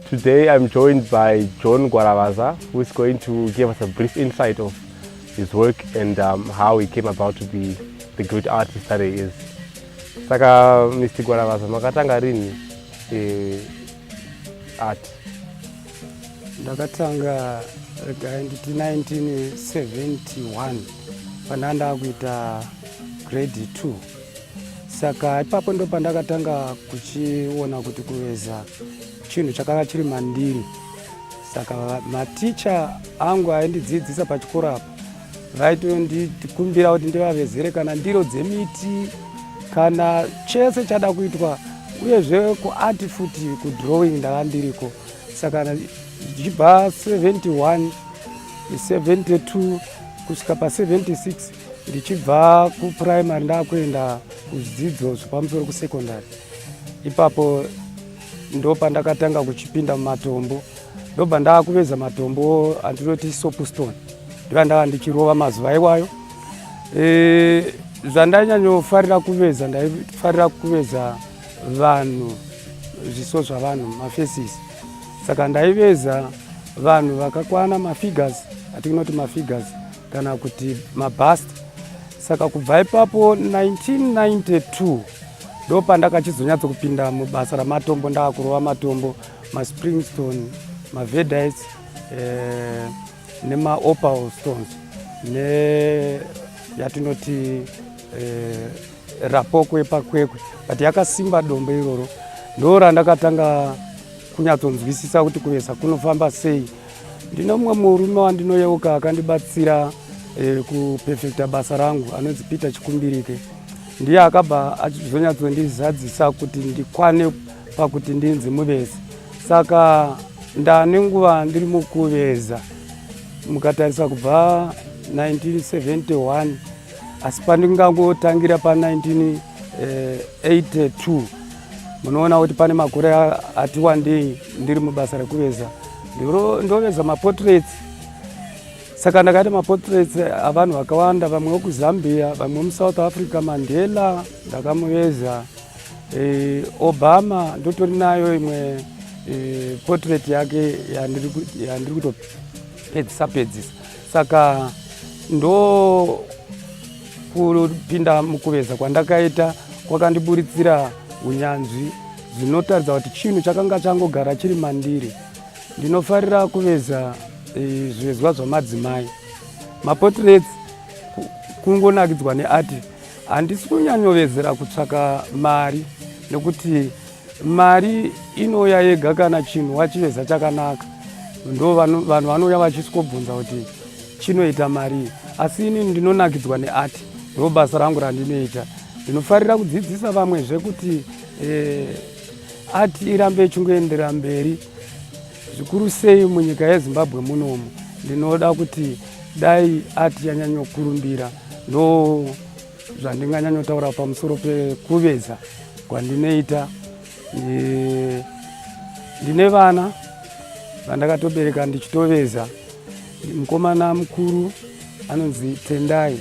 Today I'm joined by John Guaravaza, who is going to give us a brief insight of his work and um, how he came about to be the great artist that he is. Saka Mr. Guaravaza, makatanga rini eh, art? Ndakatanga rega nditi 1971 pandanda kuita grade 2 saka ipapo ndo pandakatanga kuchiona kuti kuveza chinhu chakanga chiri mandiri saka maticha angu aindidzidzisa pachikoro apo vaitondikumbira kuti ndivavezere kana ndiro dzemiti kana chese chada kuitwa uyezve kuart futi kudrawing ndava ndiriko saka zvichibva 71 72 kusvika pa 76 ndichibva kupuraimary ndakuenda kuzvidzidzo zvepamusoro kusekondary ipapo ndopandakatanga kuchipinda mumatombo ndobva ndakuveza matombo andinoti sopustone ndiva ndava ndichirova mazuva iwayo e, zvandanyanyofarira kuveza ndaifarira kuveza vanhu zviso zvavanhu mafesis saka ndaiveza vanhu vakakwana mafigures atinoti mafigures kana kuti mabust saka kubva ipapo 1992 ndo pandakachizonyatso kupinda mubasa ramatombo ndaakurova matombo maspringstone mavedites eh, nemaopal stones ne yatinoti eh, rapoko yepakwekwe but yakasimba dombo iroro ndo randakatanga kunyatsonzwisisa kuti kuvesa kunofamba sei Ndine mumwe murume wandinoyeuka akandibatsira eh, kupefekta basa rangu anonzi Peter Chikumbirike. Ndiye akabva achizonyatsondizadzisa kuti ndikwane pakuti ndinzi muvezi. Saka ndane nguva ndiri mukuveza mukatarisa kubva 1971 asi pandingangotangira pa 19 82 eh, munoona kuti pane makore ati wandei ndiri mubasa rekuveza ndoveza maportraits saka ndakaita maportraits avanhu vakawanda vamwe vekuzambia vamwe vemusouth africa mandela ndakamuveza e, obama ndotori nayo imwe e, portrait yake yandiri kutopedzisa pedzisa saka ndo kupinda mukuveza kwandakaita kwakandiburitsira unyanzvi zvinotaridza kuti chinhu chakanga changogara chiri mandiri ndinofarira kuveza e, zvivezwa zvamadzimai maportraits kungonakidzwa neati handisi kunyanyovezera kutsvaka mari nekuti Mari inouya yega kana chinhu wachiveza chakanaka, ndo vanhu vanouya vachisvikobvunza kuti chinoita marii. Asi ini ndinonakidzwa neati, ndo basa rangu randinoita. Ndinofarira kudzidzisa vamwezve kuti eh, ati irambe ichingoendera mberi zvikuru sei munyika yezimbabwe munomu ndinoda kuti dai ati yanyanyokurumbira ndo no... zvandinganyanyotaura pamusoro pekuveza kwandinoita ndine vana vandakatobereka ndichitoveza mukomana mukuru anonzi tendai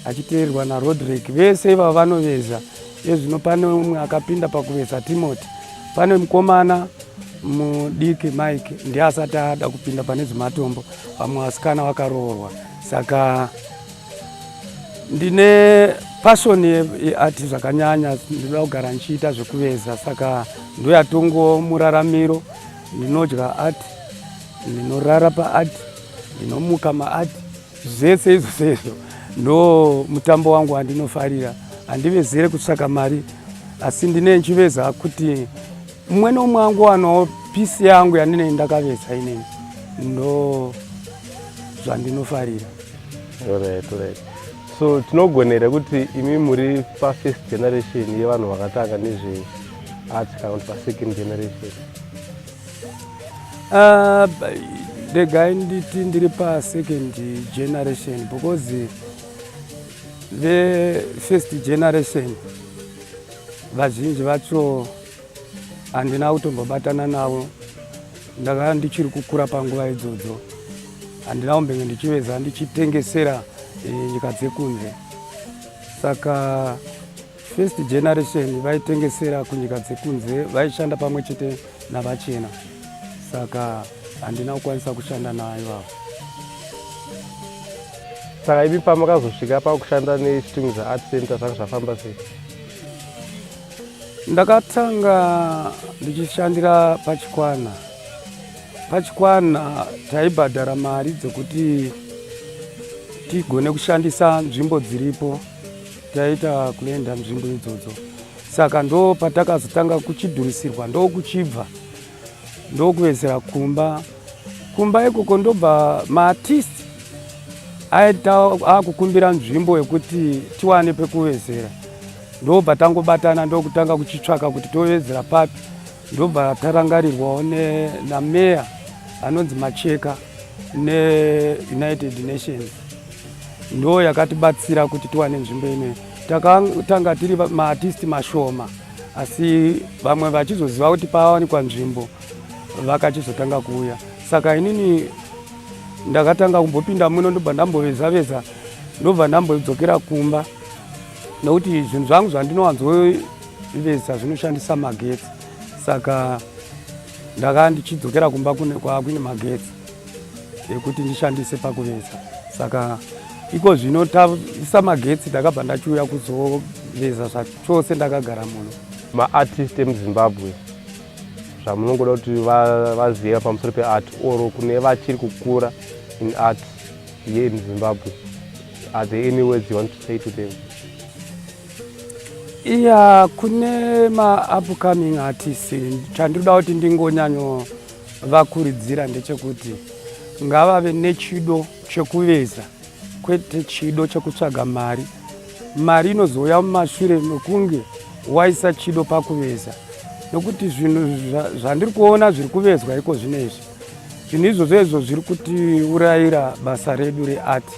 achiteerwa narodrick vese ivavo vanoveza ezvino pane umwe akapinda pakuveza timoti pane mukomana mudiki mike ndiye asati ada kupinda pane zvematombo vamwe vasikana vakaroorwa saka ndine passion yeart zvakanyanya ndinoda kugara ndichiita zvekuveza saka ndoyatongo muraramiro ndinodya art ndinorara paart ndinomuka maart zvese izvo sezvo ndo mutambo wangu wandinofarira handivezere kutsvaka mari asi ndine ndichiveza kuti mumwe nomwe wangu wanawo pisi yangu yandinei ndakaveza ineni ndo zvandinofarira Alright, alright. So tinogonera kuti imi muri pa first generation yevanhu vakatanga nezve art kana kuti pa second generation? Uh, regai nditi ndiri pa second generation because ve first generation vazhinji vacho handina kutombobatana navo ndakanga ndichiri kukura panguva idzodzo handina kumbenge ndichiveza ndichitengesera e, nyika dzekunze saka first generation vaitengesera kunyika dzekunze vaishanda pamwe chete navachena saka handina kukwanisa kushanda nayo avo saka ivi pamakazosvika pakushanda nestings art center zvanga zvafamba sei Ndakatanga ndichishandira pachikwana. Pachikwana taibhadhara mari dzekuti tigone kushandisa nzvimbo dziripo taita kuenda nzvimbo idzodzo saka ndo patakazotanga kuchidhurisirwa ndo kuchibva ndo kuvezera kumba kumba ikoko ndobva maartist aita akukumbira nzvimbo yekuti tiwane pekuvezera ndobva tangobatana ndokutanga kuchitsvaka kuti tovedzera papi ndobva tarangarirwawo nameya anonzi macheka neunited nations ndo yakatibatsira kuti tiwane nzvimbo inoyi takatanga tiri maartisti mashoma asi vamwe vachizoziva kuti paawanikwa nzvimbo vakachizotanga kuuya saka inini ndakatanga kumbopinda muno ndobva ndamboveza veza ndobva ndambodzokera kumba nokuti zvinhu zvangu zvandinowanzoivesa zvinoshandisa magetsi saka ndaka ndichidzokera kumba kwakuine magetsi ekuti ndishandise pakuvesa saka iko zvino taisa magetsi ndakabva ndachiuya kuzoveza zvachose ndakagara muno maartist emuzimbabwe zvamunongoda kuti vaziva pamusoro peart or kune vachiri kukura in art here in Zimbabwe? Are there any words you want to say to them? Yeah, kune ma upcoming artists chandinoda kuti ndingonyanyo vakuridzira ndechekuti ngavave nechido chekuveza kwete chido chekutsvaga mari. Mari inozouya mumashure mekunge waisa chido pakuveza nokuti zvinhu zvandiri kuona zviri kuvezwa iko zvino izvi zvinhu izvozvo izvo zviri kutiurayira basa redu rearti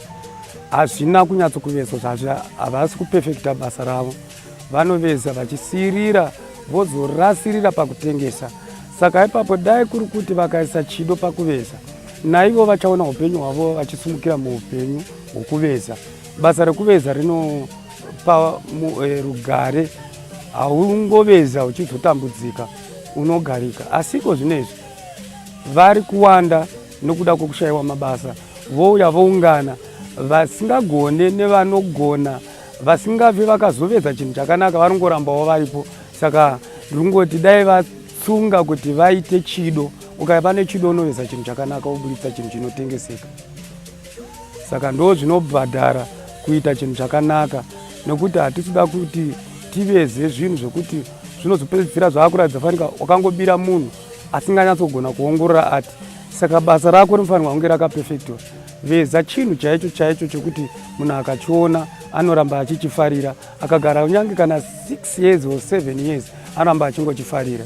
hazvina kunyatso kuvezwa havasi kupefekta basa ravo vanoveza vachisiirira vozorasirira pakutengesa saka ipapo dai kuri kuti vakaisa chido pakuveza naivo vachaona upenyu hwavo vachisumukira muupenyu hwokuveza basa rekuveza rinopa eh, rugare haungoveza uchizotambudzika unogarika asiko zvino izvi vari kuwanda nokuda kwokushayiwa mabasa vouya voungana vasingagone nevanogona vasingabvi vakazovedza chinhu chakanaka varingorambawo varipo saka ndringoti dai vatsunga kuti vaite chido ukaya pane chido unoveza chinhu chakanaka woburitsa chinhu chinotengeseka saka ndo zvinobhadhara kuita chinhu chakanaka nokuti hatisuda kuti tiveze zvinhu zvokuti zvinozopedzisira zvaakuratidza fanika wakangobira munhu asinganyatsogona kuongorora ati saka basa rako rinofanirwa kunge rakapefector veza chinhu chaicho chaicho chekuti munhu akachiona anoramba achichifarira akagara kunyange kana 6 years or 7 years anoramba achingochifarira